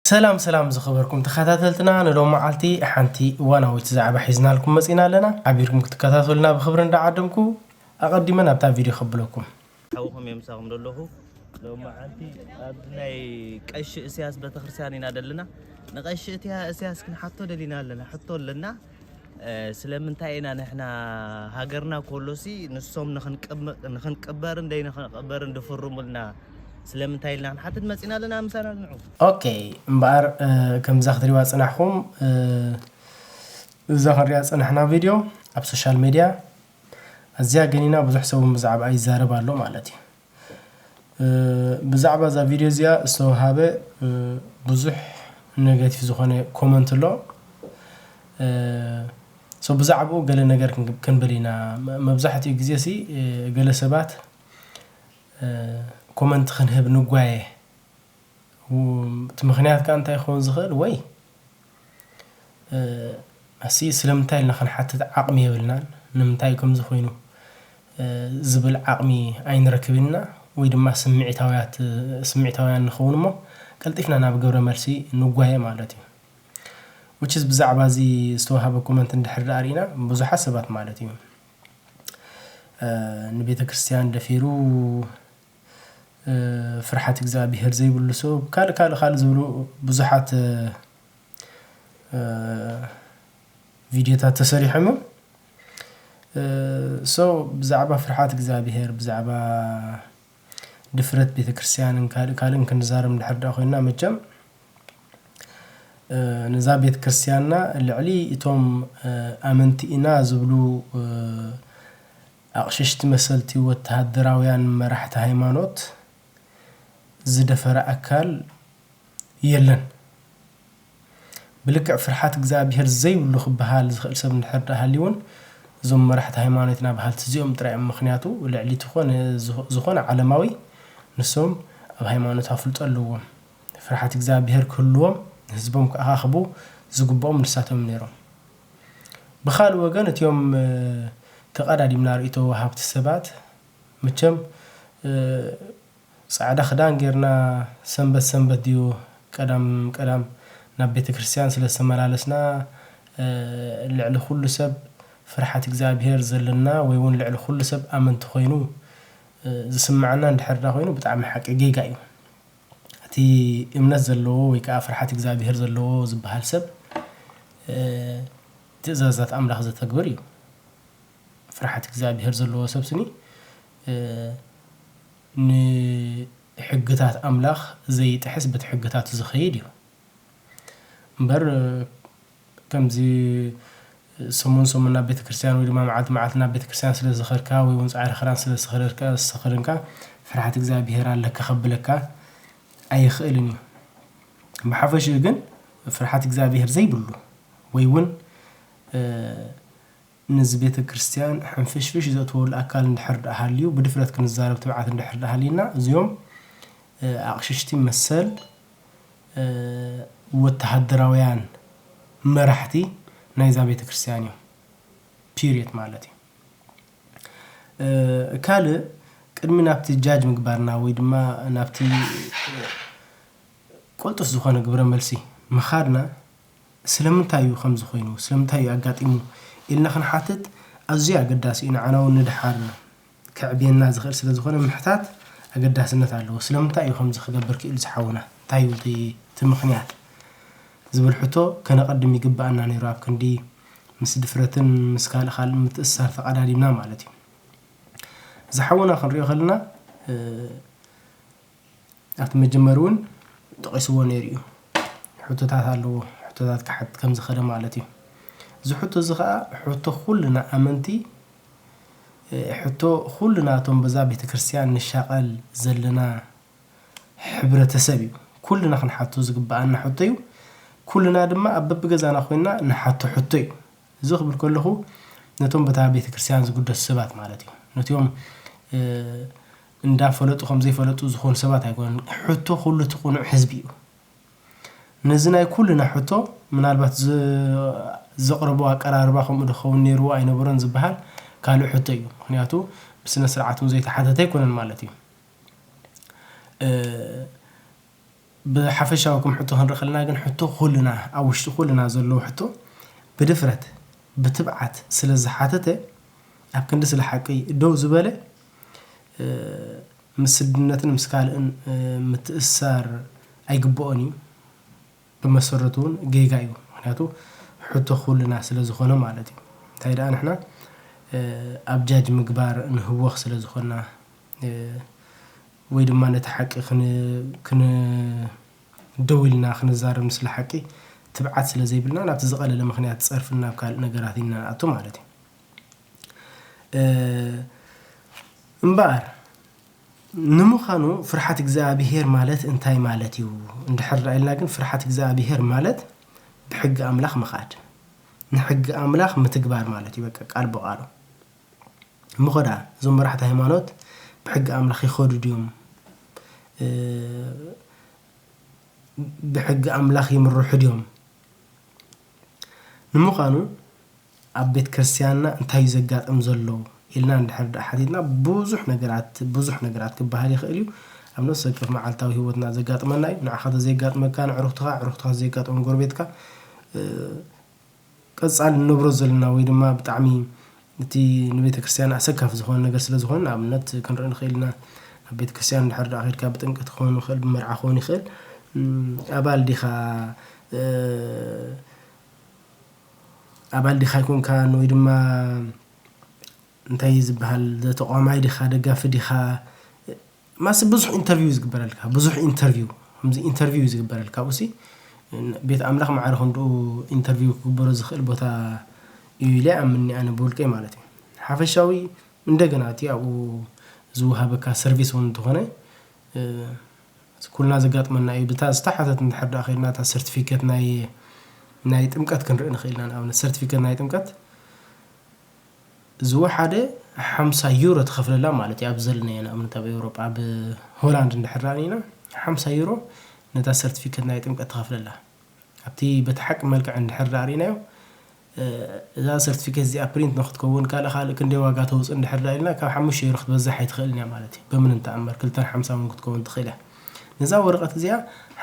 ሰላም ሰላም ዝኸበርኩም ተኸታተልትና ንሎም መዓልቲ ሓንቲ እዋናዊት ዛዕባ ሒዝናልኩም መፂና ኣለና ሓቢርኩም ክትከታተሉና ብክብሪ እንዳዓደምኩ ኣቐዲመ ናብታ ቪድዮ ከብለኩም ሓውኹም እየ ምሳኹም ዘለኹ ሎማዓንቲ ኣብ ናይ ቀሺ እስያስ ቤተክርስትያን ኢና ዘለና ንቀሺ እትያ እስያስ ክንሓቶ ደሊና ኣለና ሕቶ ኣለና ስለምንታይ ኢና ንሕና ሃገርና ኮሎሲ ንሶም ንክንቅበርን ደይ ንክንቅበርን ድፍርሙልና ስለምንታይ ኢልና ክንሓትት መፂና ኣለና ምሳና ንዑ ኦኬ እምበኣር ከምዛ ክትሪዋ ፅናሕኹም እዛ ክንሪኣ ፅናሕና ቪድዮ ኣብ ሶሻል ሚድያ ኣዝያ ገኒና ብዙሕ ሰብ ውን ብዛዕባኣ ይዛረብ ኣሎ ማለት እዩ። ብዛዕባ እዛ ቪድዮ እዚኣ ዝተውሃበ ብዙሕ ነገቲቭ ዝኾነ ኮመንት ኣሎ። ሶ ብዛዕባኡ ገለ ነገር ክንብል ኢና። መብዛሕትኡ ግዜ ሲ ገለ ሰባት ኮመንት ክንህብ ንጓየ። እቲ ምኽንያት ከኣ እንታይ ክኸውን ዝኽእል ወይ ኣስይ ስለምንታይ ኢልና ክንሓትት ዓቕሚ የብልናን ንምንታይ እዩ ከምዚ ኮይኑ ዝብል ዓቕሚ ኣይንረክብን ኢና ወይ ድማ ስምዒታውያት ስምዒታውያን ንኸውን እሞ ቀልጢፍና ናብ ግብረ መልሲ ንጓየ ማለት እዩ which is ብዛዕባ እዚ ዝተዋህበ ኮመንት እንድሕር ደኣ ርኢና ብዙሓት ሰባት ማለት እዩ ንቤተ ክርስቲያን ደፊሩ ፍርሓት እግዝኣቢሄር ዘይብሉ ሰብ ካልእ ካልእ ካልእ ዝብሉ ብዙሓት ቪድዮታት ተሰሪሖም እዮም። ሶ ብዛዕባ ፍርሓት እግዝኣቢሄር ብዛዕባ ድፍረት ቤተክርስትያንን ካልእ ካልእን ክንዛረብ እንድሕር ድኣ ኮይና መቸም ነዛ ቤተክርስትያንና ልዕሊ እቶም ኣመንቲ ኢና ዝብሉ ኣቕሽሽቲ መሰልቲ ወተሃደራውያን መራሕቲ ሃይማኖት ዝደፈረ ኣካል የለን። ብልክዕ ፍርሓት እግዝኣብሄር ዘይብሉ ክበሃል ዝኽእል ሰብ እንድሕር ድኣ ሃልዩውን እዞም መራሕቲ ሃይማኖትና በሃልቲ እዚኦም ጥራይ እዮም። ምኽንያቱ ልዕሊ እቲ ኮነ ዝኾነ ዓለማዊ ንሶም ኣብ ሃይማኖት ኣፍልጦ ኣለዎም። ፍርሓት እግዝኣብሄር ክህልዎም ንህዝቦም ክኣኻኽቡ ዝግብኦም ንሳቶም ነይሮም። ብኻልእ ወገን እቲኦም ተቐዳዲምና ርእይቶ ወሃብቲ ሰባት መቸም ጻዕዳ ክዳን ጌርና ሰንበት ሰንበት ድዩ ቀዳም ቀዳም ናብ ቤተክርስትያን ስለ ዝተመላለስና ልዕሊ ኩሉ ሰብ ፍርሓት እግዚኣብሄር ዘለና ወይ ውን ልዕሊ ኩሉ ሰብ ኣመንቲ ኮይኑ ዝስመዓና እንድሕር ዳኾይኑ ብጣዕሚ ሓቂ ጌጋ እዩ። እቲ እምነት ዘለዎ ወይ ከኣ ፍርሓት እግዚኣብሄር ዘለዎ ዝበሃል ሰብ ትእዛዛት ኣምላኽ ዘተግብር እዩ። ፍርሓት እግዚኣብሄር ዘለዎ ሰብ ስኒ ንሕግታት ኣምላኽ ዘይጥሕስ በቲ ሕግታቱ ዝኸይድ እዩ። እምበር ከምዚ ሰሙን ሰሙን ናብ ቤተክርስትያን ወይ ድማ መዓልቲ መዓልቲ ናብ ቤተክርስትያን ስለ ዝኸድካ ወይ እውን ጻዕሪ ክዳን ስለ ዝተኸደንካ ፍርሓት እግዚኣብሄር ኣለካ ከብለካ ኣይኽእልን እዩ። ብሓፈሽኡ ግን ፍርሓት እግዚኣብሄር ዘይብሉ ወይ እውን ነዚ ቤተ ክርስቲያን ሕንፍሽፍሽ ዘእትወሉ ኣካል እንድሕር ድኣ ሃልዩ ብድፍረት ክንዛረብ ትብዓት እንድሕር ድኣ ሃልዩና እዚኦም ኣቕሽሽቲ መሰል ወተሃደራውያን መራሕቲ ናይዛ ቤተ ክርስቲያን እዮም ፒርየት ማለት እዩ። ካልእ ቅድሚ ናብቲ ጃጅ ምግባርና ወይ ድማ ናብቲ ቅልጡፍ ዝኾነ ግብረ መልሲ ምኻድና ስለምንታይ እዩ ከምዚ ኮይኑ? ስለምንታይ እዩ ኣጋጢሙ? ኢልና ክንሓትት ኣዝዩ ኣገዳሲ እዩ፣ ንዓና እውን ንደሓር ከዕብየና ዝኽእል ስለ ዝኾነ ምሕታት ኣገዳስነት ኣለዎ። ስለምንታይ እዩ ከምዚ ክገብር ክኢሉ እዚ ሓውና? እንታይ እዩ እቲ እቲ ምኽንያት? ዝብል ሕቶ ከነቐድም ይግበኣና ነይሩ፣ ኣብ ክንዲ ምስ ድፍረትን ምስ ካልእ ካልእን ምትእስሳር ተቐዳዲምና ማለት እዩ። እዚ ሓውና ክንሪኦ ከለና ኣብቲ መጀመሪ እውን ጠቂስዎ ነይሩ እዩ። ሕቶታት ኣለዎ ሕቶታት ክሓትት ከም ዝኸለ ማለት እዩ። እዚ ሕቶ እዚ ከኣ ሕቶ ኩልና ኣመንቲ ሕቶ ኩልና እቶም በዛ ቤተ ክርስቲያን ንሻቐል ዘለና ሕብረተሰብ እዩ። ኩልና ክንሓቶ ዝግብኣና ሕቶ እዩ። ኩልና ድማ ኣብ በብገዛና ኮይንና ንሓቶ ሕቶ እዩ። እዚ ክብል ከለኹ ነቶም በታ ቤተ ክርስቲያን ዝግደሱ ሰባት ማለት እዩ። ነትዮም እንዳ ፈለጡ ከም ዘይፈለጡ ዝኾኑ ሰባት ኣይኮኑን ሕቶ ኩሉ እቲ ቁኑዕ ህዝቢ እዩ ነዚ ናይ ኩልና ሕቶ ምናልባት ዘቅርቦ ኣቀራርባ ከምኡ ዶ ክኸውን ኔርዎ ኣይነበሮን ዝብሃል ካልእ ሕቶ እዩ ምኽንያቱ ብስነ ስርዓት ውን ዘይተሓተተ ኣይኮነን ማለት እዩ። ብሓፈሻዊ ከም ሕቶ ክንርኢ ከለና ግን ሕቶ ኩልና ኣብ ውሽጢ ኩልና ዘለዉ ሕቶ ብድፍረት ብትብዓት ስለ ዝሓተተ ኣብ ክንዲ ስለ ሓቂ ደው ዝበለ ምስ ስድነትን ምስ ካልእን ምትእስሳር ኣይግበኦን እዩ ብመሰረቱ ውን ጌጋ እዩ ምክንያቱ ሕቶ ኩልና ስለ ዝኮነ ማለት እዩ እንታይ ደኣ ንሕና ኣብ ጃጅ ምግባር ንህወክ ስለ ዝኮና ወይ ድማ ነቲ ሓቂ ክን ደው ኢልና ክንዛረብ ንስለ ሓቂ ትብዓት ስለ ዘይብልና ናብቲ ዝቐለለ ምኽንያት ጸርፍን ናብ ካልእ ነገራት ኢና ንኣቱ ማለት እዩ። እምበኣር ንምዃኑ ፍርሓት እግዚኣብሄር ማለት እንታይ ማለት እዩ እንድሕር ዳኣ ኢልና ግን ፍርሓት እግዚኣብሄር ማለት ብሕጊ ኣምላኽ ምኻድ ንሕጊ ኣምላኽ ምትግባር ማለት እዩ በቃ ቃል ብቓሉ። እሞኸ ደኣ እዞም መራሕቲ ሃይማኖት ብሕጊ ኣምላኽ ይኸዱ ድዮም? ብሕጊ ኣምላኽ ይምርሑ ድዮም? ንምዃኑ ኣብ ቤት ክርስትያንና እንታይ እዩ ዘጋጥም ዘሎ ኢልና እንድሕር ደኣ ሓቲትና ብዙሕ ነገራት ብዙሕ ነገራት ክበሃል ይኽእል እዩ። ኣብ ነፍሲ ወከፍ መዓልታዊ ህይወትና ዘጋጥመና እዩ። ንዓኻ ተዘየጋጥመካ ንዕሩኽትኻ፣ ዕሩኽትኻ ተዘየጋጥሞም ጎረቤትካ ቀጻሊ ንነብሮ ዘለና ወይ ድማ ብጣዕሚ እቲ ንቤተክርስትያን ኣሰካፊ ዝኾነ ነገር ስለ ዝኾን ንኣብነት ክንርኢ ንኽእል ኢና ኣብ ቤተክርስትያን ድሕር ድኣ ኬድካ ብጥምቀት ክኾን ይኽእል ብመርዓ ክኾን ይኽእል ኣባል ዲኻ ኣባል ዲኻ ኣይኮንካን ወይ ድማ እንታይ እዩ ዝበሃል ዘተቋማይ ዲኻ ደጋፊ ዲኻ ማሲ ብዙሕ ኢንተርቪው እዩ ዝግበረልካ ብዙሕ ኢንተርቪው ከምዚ ኢንተርቪው እዩ ዝግበረልካ ኣብኡሲ ቤት ኣምላኽ ማዕረ ክንድኡ ኢንተርቪው ክግበሮ ዝኽእል ቦታ እዩ ኢለ ኣምኒ ኣነ ብውልቀይ ማለት እዩ ሓፈሻዊ እንደገና እቲ ኣብኡ ዝወሃበካ ሰርቪስ እውን እንተኾነ ኩልና ዘጋጥመና እዩ ብታ ዝተሓተት እንድሕር ዳኣ ከይድና እታ ሰርቲፊኬት ናይ ናይ ጥምቀት ክንርኢ ንኽእል ኢና ንኣብነት ሰርቲፊኬት ናይ ጥምቀት ዝወሓደ ሓምሳ ዩሮ ትኸፍለላ ማለት እዩ። ኣብ ዘለናዮ ንኣብነት ኣብ ኤውሮጳ ኣብ ሆላንድ እንድሕር ረኣኒና ሓምሳ ዩሮ ነታ ሰርቲፊከት ናይ ጥምቀት ትኸፍለላ። ኣብቲ በቲ ሓቂ መልክዕ እንድሕር ዳኣሪናዮ እዛ ሰርቲፊከት እዚኣ ፕሪንት ንክትከውን ካልእ ካልእ ክንደይ ዋጋ ተውፅእ እንድሕር ዳ ኢልና ካብ ሓሙሽተ ዩሮ ክትበዝሕ ኣይትኽእልን እያ ማለት እዩ። በምንም ተኣምር ክልተን ሓምሳ እውን ክትከውን ትኽእል እያ። ነዛ ወረቐት እዚኣ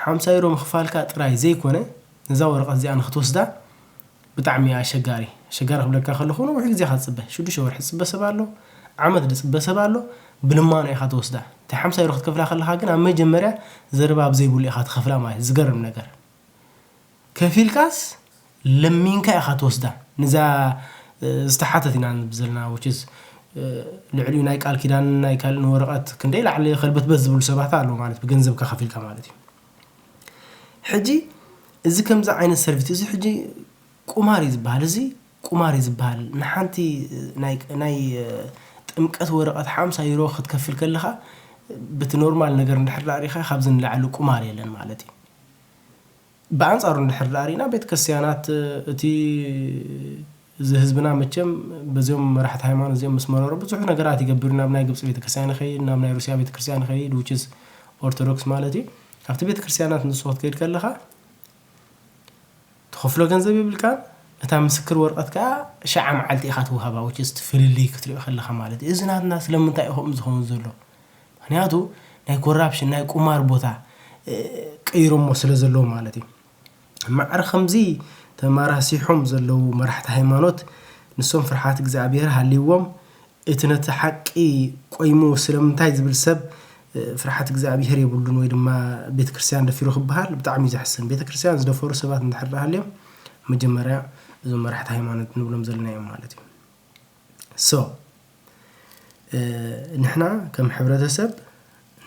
ሓምሳ ዩሮ ምኽፋልካ ጥራይ ዘይኮነ ነዛ ወረቐት እዚኣ ንክትወስዳ ብጣዕሚ ኣሸጋሪ ኣሸጋሪ ክብለካ ከለኩ ነዊሕ ግዜ ኢካ ትጽበ ሽዱሽተ ወርሒ ዝጽበ ሰብ ኣሎ ዓመት ድጽበ ሰብ ኣሎ ብልማኖ ኢካ ትወስዳ እታ ሓምሳ ዩሮ ክትከፍላ ከለካ ግን ኣብ መጀመርያ ዘረባ ኣብ ዘይብሉ ኢካ ትከፍላ ማለት እዩ ዝገርም ነገር ከፊልካስ ለሚንካ ኢካ ትወስዳ ንዛ ዝተሓተት ኢና ንብ ዘለና which is ልዕሊኡ ናይ ቃል ኪዳንን ናይ ካልእን ወረቀት ክንደይ ላዕሊ ከልበትበት ዝብሉ ሰባት ኣለዉ ማለት ብገንዘብካ ከፊልካ ማለት እዩ ሕጂ እዚ ከምዚ ዓይነት ሰርቪት እዚ ሕጂ ቁማር እዩ ዝበሃል እዚ ቁማር እዩ ዝበሃል ንሓንቲ ናይ ጥምቀት ወረቐት ሓምሳ ዩሮ ክትከፍል ከለኻ በቲ ኖርማል ነገር እንድሕር ዳኣ ሪኢኻ ካብዚ ንላዕሊ ቁማር የለን ማለት እዩ ብኣንጻሩ እንድሕር ዳኣ ሪኢና ቤተ ክርስትያናት እቲ እዚ ህዝብና መቸም በዚኦም መራሕቲ ሃይማኖት እዚኦም ምስ መረሮ ብዙሕ ነገራት ይገብር ናብ ናይ ግብጺ ቤተክርስትያን ይኸይድ ናብ ናይ ሩስያ ቤተክርስትያን ይኸይድ which is ኦርቶዶክስ ማለት እዩ ኣብቲ ቤተክርስትያናት ንሱ ክትከይድ ከለኻ ትኸፍሎ ገንዘብ የብልካን እታ ምስክር ወርቀት ከዓ ሸዓ መዓልቲ ኢኻ ትውሃባ which is ፍልልይ ክትሪኦ ከለኻ ማለት እዩ እዚ ናትና ስለምንታይ እዩ ከምኡ ዝኸውን ዘሎ ምክንያቱ ናይ ኮራፕሽን ናይ ቁማር ቦታ ቀይሮሞ ስለ ዘለዉ ማለት እዩ ማዕረ ከምዚ ተማራሲሖም ዘለዉ መራሕቲ ሃይማኖት ንሶም ፍርሓት እግዚኣብሔር ሃልይዎም እቲ ነቲ ሓቂ ቆይሙ ስለምንታይ ዝብል ሰብ ፍርሓት እግዚኣብሔር የብሉን ወይ ድማ ቤተክርስትያን ደፊሩ ክበሃል ብጣዕሚ እዩ ዘሕስን ቤተክርስትያን ዝደፈሩ ሰባት እንድሕር ሃልዮም መጀመርያ እዞም መራሕቲ ሃይማኖት ንብሎም ዘለና እዮም ማለት እዩ ሶ ንሕና ከም ሕብረተሰብ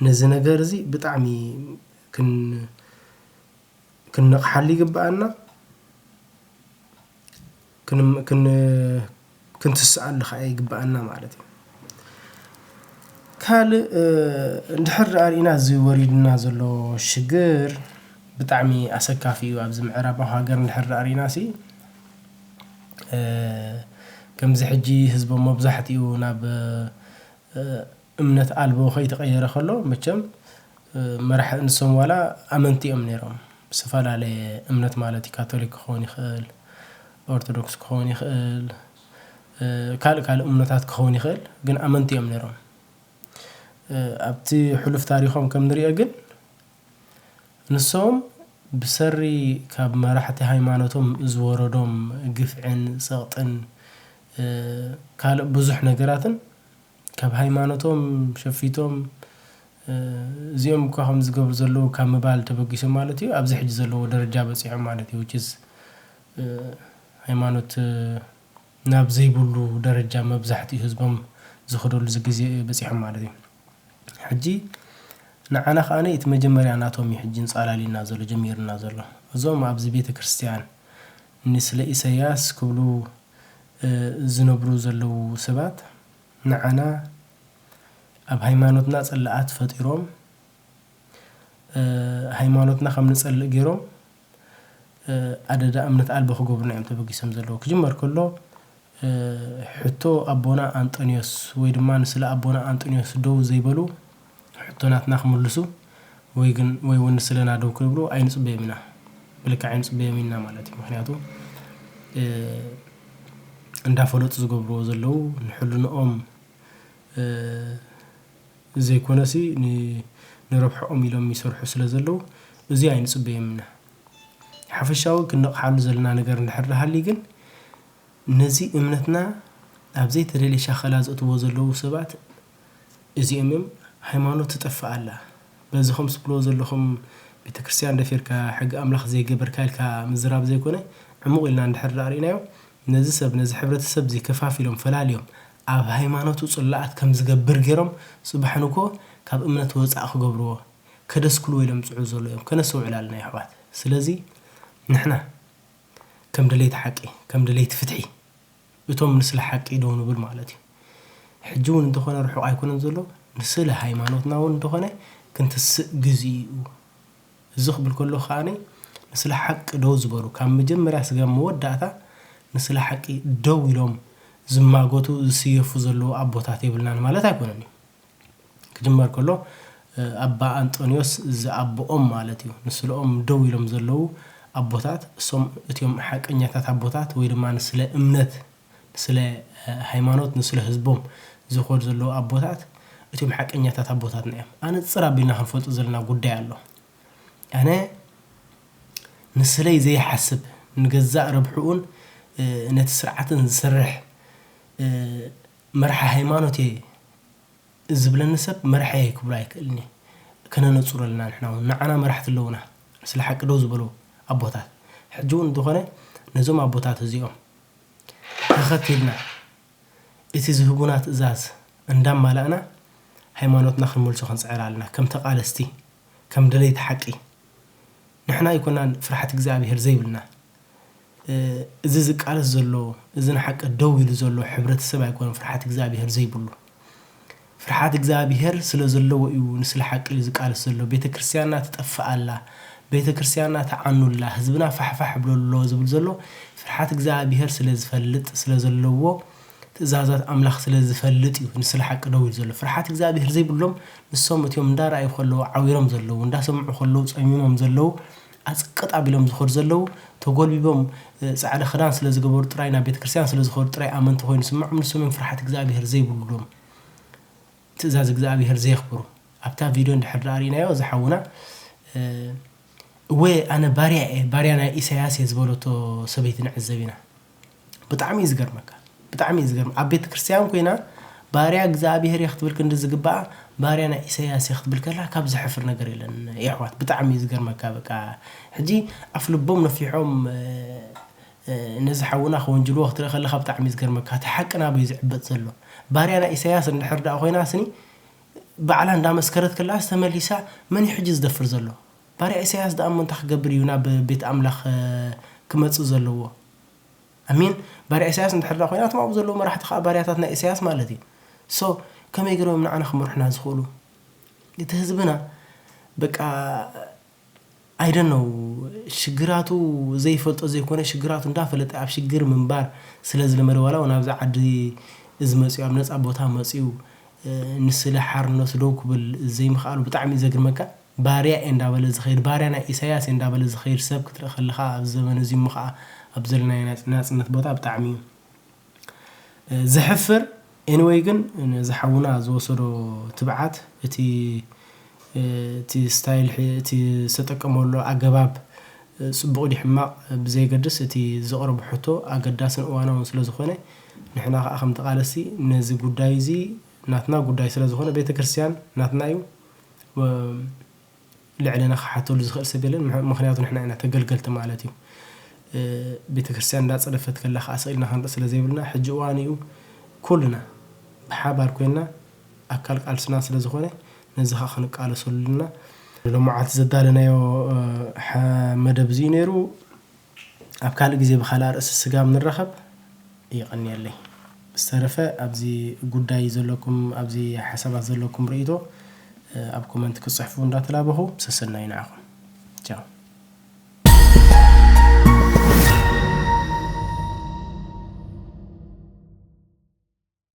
ነዚ ነገር እዚ ብጣዕሚ ክን ክንነቕሓሉ ይግበኣና፣ ክንትስኣሉ ከዓ ይግበኣና ማለት እዩ። ካልእ እንድሕር ርኢና እዚ ወሪዱና ዘሎ ሽግር ብጣዕሚ ኣሰካፊ እዩ። ኣብዚ ምዕራባዊ ሃገር እንድሕር ርኢና ሲ ከምዚ ሕጂ ህዝቦም መብዛሕትኡ ናብ እምነት ኣልቦ ከይተቀየረ ከሎ መቸም መራሒ ንሶም ዋላ ኣመንቲ እዮም ነይሮም ዝተፈላለየ እምነት ማለት እዩ ካቶሊክ ክኸውን ይኽእል ኦርቶዶክስ ክኸውን ይኽእል ካልእ ካልእ እምኖታት ክኸውን ይኽእል ግን ኣመንቲ እዮም ነይሮም ኣብቲ ሕሉፍ ታሪኾም ከም ንሪኦ ግን ንሶም ብሰሪ ካብ መራሕቲ ሃይማኖቶም ዝወረዶም ግፍዕን ጸቕጥን ካልእ ብዙሕ ነገራትን ካብ ሃይማኖቶም ሸፊቶም እዚኦም እኳ ከምዚ ዝገብሩ ዘለዉ ካብ ምባል ተበጊሶም ማለት እዩ ኣብዚ ሕጂ ዘለዎ ደረጃ በጺሖም ማለት እዩ which is ሃይማኖት ናብ ዘይብሉ ደረጃ መብዛሕትኡ ህዝቦም ዝኸደሉ ግዜ በጺሖም ማለት እዩ ሕጂ ንዓና ከኣ እቲ መጀመርያ ናቶም እዩ ሕጂ ኣንጻላልዩና ዘሎ ጀሚሩና ዘሎ እዞም ኣብዚ ቤተክርስትያን ንስለ ኢሰያስ ክብሉ ዝነብሩ ዘለዉ ሰባት ንዓና ኣብ ሃይማኖትና ጽላኣት ፈጢሮም ሃይማኖትና ከም ንጸልእ ጌሮም ኣደዳ እምነት ኣልቦ ክገብሩና እዮም ተበጊሶም ዘለዉ ክጅመር ከሎ ሕቶ ኣቦና ኣንጠንዮስ ወይ ድማ ንስለ ኣቦና ኣንጠንዮስ ደው ዘይበሉ ሕቶ ናትና ክምልሱ ወይ ግን ወይ ውን ንስለና ደው ክብሉ ኣይንጽበዮም ኢና ብልክዕ ኣይንጽበዮምን ኢና ማለት እዩ ምክንያቱ እንዳፈለጡ ዝገብርዎ ዘለው ንሕልንኦም ዘይኮነሲ ንረብሕኦም ኢሎም ይሰርሑ ስለ ዘለው እዚ ኣይንጽበዮም ኢና ሓፈሻዊ ክንነቕሓሉ ዘለና ነገር እንድሕር ሃልዩ ግን ነዚ እምነትና ኣብ ዘይተደልየ ሻኸላ ዘእትዎ ዘለው ሰባት እዚኦምዮም ሃይማኖት ትጠፍእ ኣላ በዚ ከምዚ ትብልዎ ዘለኹም ቤተክርስትያን ደፊርካ ሕጊ ኣምላኽ ዘይገበርካ ኢልካ ምዝራብ ዘይኮነ ዕሙቕ ኢልና እንድሕር ደኣ ርኢናዮ ነዚ ሰብ ነዚ ሕብረተሰብ እዚ ከፋፊሎም ፈላልዮም ኣብ ሃይማኖቱ ጽላኣት ከም ዝገብር ጌሮም ጽባሕ ንግሆ ካብ እምነት ወጻእ ክገብርዎ ከደስክልዎ ኢሎም ዝጽዕሩ ዘለዉ እዮም ከነስተውዕል ኣለና የሕዋት ስለዚ ንሕና ከም ደለይቲ ሓቂ ከም ደለይቲ ፍትሒ እቶም ንስለ ሓቂ ደው ንብል ማለት እዩ። ሕጂ ውን እንተኾነ ርሑቕ ኣይኮነን ዘሎ፣ ንስለ ሃይማኖትና ውን እንተኾነ ክንትስእ ግዚኡ እዩ። እዚ ክብል ከለኹ ከኣ ንስለ ሓቂ ደው ዝበሉ ካብ መጀመርያ ስጋብ መወዳእታ ንስለ ሓቂ ደው ኢሎም ዝማጎቱ ዝስየፉ ዘለዉ ኣቦታት የብልናን ማለት ኣይኮነን እዩ። ክጅመር ከሎ ኣባ ኣንጦንዮስ ዝኣቦኦም ማለት እዩ ንስለኦም ደው ኢሎም ዘለዉ ኣቦታት እሶም እትዮም ሓቀኛታት ኣቦታት ወይ ድማ ንስለ እምነት ንስለ ሃይማኖት ንስለ ህዝቦም ዝኸዱ ዘለዉ ኣቦታት እትዮም ሓቀኛታት ኣቦታትና እዮም ኣነጽር ኣቢልና ክንፈልጡ ዘለና ጉዳይ ኣሎ ኣነ ንስለይ ዘይሓስብ ንገዛእ ርብሕኡን ነቲ ስርዓትን ዝሰርሕ መራሒ ሃይማኖት እየ ዝብለኒ ሰብ መራሒየይ ክብሎ ኣይክእልን እየ ከነነጹሮ ኣለና ንሕና ውን ንዓና መራሕቲ ኣለውና ስለ ሓቂ ደው ዝበሉ ኣቦታት ሕጂ ውን እንተኾነ ነዞም ኣቦታት እዚኦም ተኸቲልና እቲ ዝህቡና ትእዛዝ እንዳማላእና ሃይማኖትና ክንመልሶ ክንጽዕር ኣለና ከም ተቓለስቲ ከም ደለይቲ ሓቂ ንሕና ኣይኮናን ፍርሓት እግዚኣብሄር ዘይብልና እዚ ዝቃለስ ዘሎ እዚ ንሓቂ ደው ኢሉ ዘሎ ሕብረተሰብ ኣይኮነን ፍርሓት እግዝኣብሄር ዘይብሉ ፍርሓት እግዝኣብሄር ስለዘለዎ እዩ ንስለ ሓቂ እዩ ዝቃለስ ዘሎ ቤተክርስትያንና ትጠፍእ ኣላ ቤተክርስትያንና ትዓኑ ኣላ ህዝብና ፋሕፋሕ ይብሎ ኣሎ ዝብል ዘሎ ፍርሓት እግዝኣብሄር ስለዝፈልጥ ስለዘለዎ ትእዛዛት ኣምላኽ ስለዝፈልጥ እዩ ንስለ ሓቂ ደው ኢሉ ዘሎ ፍርሓት እግዝኣብሄር ዘይብሎም ንሶም እትዮም እንዳረኣዩ ከለዉ ዓዊሮም ዘለዉ እንዳሰምዑ ከለዉ ጸሚሞም ዘለዉ ኣጽቅጥ ኣቢሎም ዝኸዱ ዘለዉ፣ ተጎልቢቦም ጻዕዳ ክዳን ስለ ዝገበሩ ጥራይ፣ ናብ ቤተክርስትያን ስለ ዝኸዱ ጥራይ ኣመንቲ ኮይኑ ዝስምዖም፣ ንሶምዮም ፍርሓት እግዝኣብሄር ዘይብሉሎም፣ ትእዛዝ እግዝኣብሄር ዘየኽብሩ። ኣብታ ቪድዮ እንድሕር ድኣ ርኢናዮ እዛ ሓውና እወ ኣነ ባርያ እየ ባርያ ናይ ኢሳያስ እየ ዝበለቶ ሰበይቲ ንዕዘብ ኢና። ብጣዕሚ እዩ ዝገርመካ ብጣዕሚ እዩ ዝገርመ ኣብ ቤተ ክርስትያን ኮይና ባርያ እግዚኣብሄር እየ ክትብል ክንዲ ዝግባኣ ባርያ ናይ ኢሰያስ እየ ክትብል ከላ ካብ ዝሕፍር ነገር የለን የሕዋት ብጣዕሚ እዩ ዝገርመካ በቃ ሕጂ ኣፍ ልቦም ነፊሖም ነዚ ሓውና ክወንጅልዎ ክትርኢ ከለካ ብጣዕሚ እዩ ዝገርመካ እቲ ሓቂ ናበይ ዝዕበጥ ዘሎ ባርያ ናይ ኢሰያስ እንድሕር ደኣ ኮይናስኒ ባዕላ እንዳመስከረት ከላስ ተመሊሳ መን እዩ ሕጂ ዝደፍር ዘሎ ባርያ ኢሳያስ ድኣ እሞ እንታይ ክገብር እዩ ናብ ቤት ኣምላኽ ክመጽእ ዘለዎ ኣሜን ባርያ ኢሳያስ እንድሕር ድኣ ኮይና እቶም ኣብኡ ዘለዉ መራሕቲ ከኣ ባርያታት ናይ ኢሳያስ ማለት እዩ so ከመይ ገሮም እዮም ንዓና ክመርሑና ዝኽእሉ እቲ ህዝብና በቃ ኣይ ዶንት ኖው ሽግራቱ ዘይፈልጦ ዘይኮነ ሽግራቱ እንዳፈለጠ ኣብ ሽግር ምንባር ስለ ዝለመደ ዋላ እውን ኣብዚ ዓዲ እዚ መጽዩ ኣብ ነጻ ቦታ መጽዩ ንስለ ሓርነቱ ደው ክብል ዘይምኽኣሉ ብጣዕሚ እዩ ዘግርመካ ባርያ እየ እንዳበለ ዝኸይድ ባርያ ናይ ኢሳያስ እየ እንዳበለ ዝኸይድ ሰብ ክትርኢ ከለኻ ኣብዚ ዘበን እዚ እሞ ኸኣ ኣብዚ ዘለናዮ ናይ ናጽነት ቦታ ብጣዕሚ እዩ ዘሕፍር Anyway ግን ነዚ ሓውና ዝወሰዶ ትብዓት እቲ እቲ style ሕ እቲ ዝተጠቀመሉ ኣገባብ ጽቡቕ ድዩ ሕማቕ ብዘየገድስ እቲ ዘቕረቦ ሕቶ ኣገዳስን እዋናውን ስለ ዝኾነ ንሕና ኸኣ ከም ተቓለስቲ ነዚ ጉዳይ እዚ ናትና ጉዳይ ስለ ዝኾነ ቤተ ክርስትያን ናትና እዩ ልዕለና ክሓተሉ ዝክእል ሰብ የለን ምክንያቱ ንሕና ኢና ተገልገልቲ ማለት እዩ ቤተክርስትያን እንዳጸደፈት ከላ ከኣ ስቅ ኢልና ክንርኢ ስለ ዘይብልና ሕጂ እዋኑ እዩ ኩልና ብሓባር ኮይና ኣካል ቃልስና ስለ ዝኮነ ነዚ ከኣ ክንቃለሰሉ ኣለና ሎማዓንቲ ዘዳለናዮ መደብ እዚ እዩ ነይሩ ኣብ ካልእ ግዜ ብካልኣ ርእሲ ስጋብ ንራከብ የቀንየለይ ብዝተረፈ ኣብዚ ጉዳይ ዘለኩም ኣብዚ ሓሳባት ዘለኩም ርእይቶ ኣብ ኮመንት ክትጽሕፉ እንዳተላበኩ ሰሰናዩ ንዓኩም ቻው።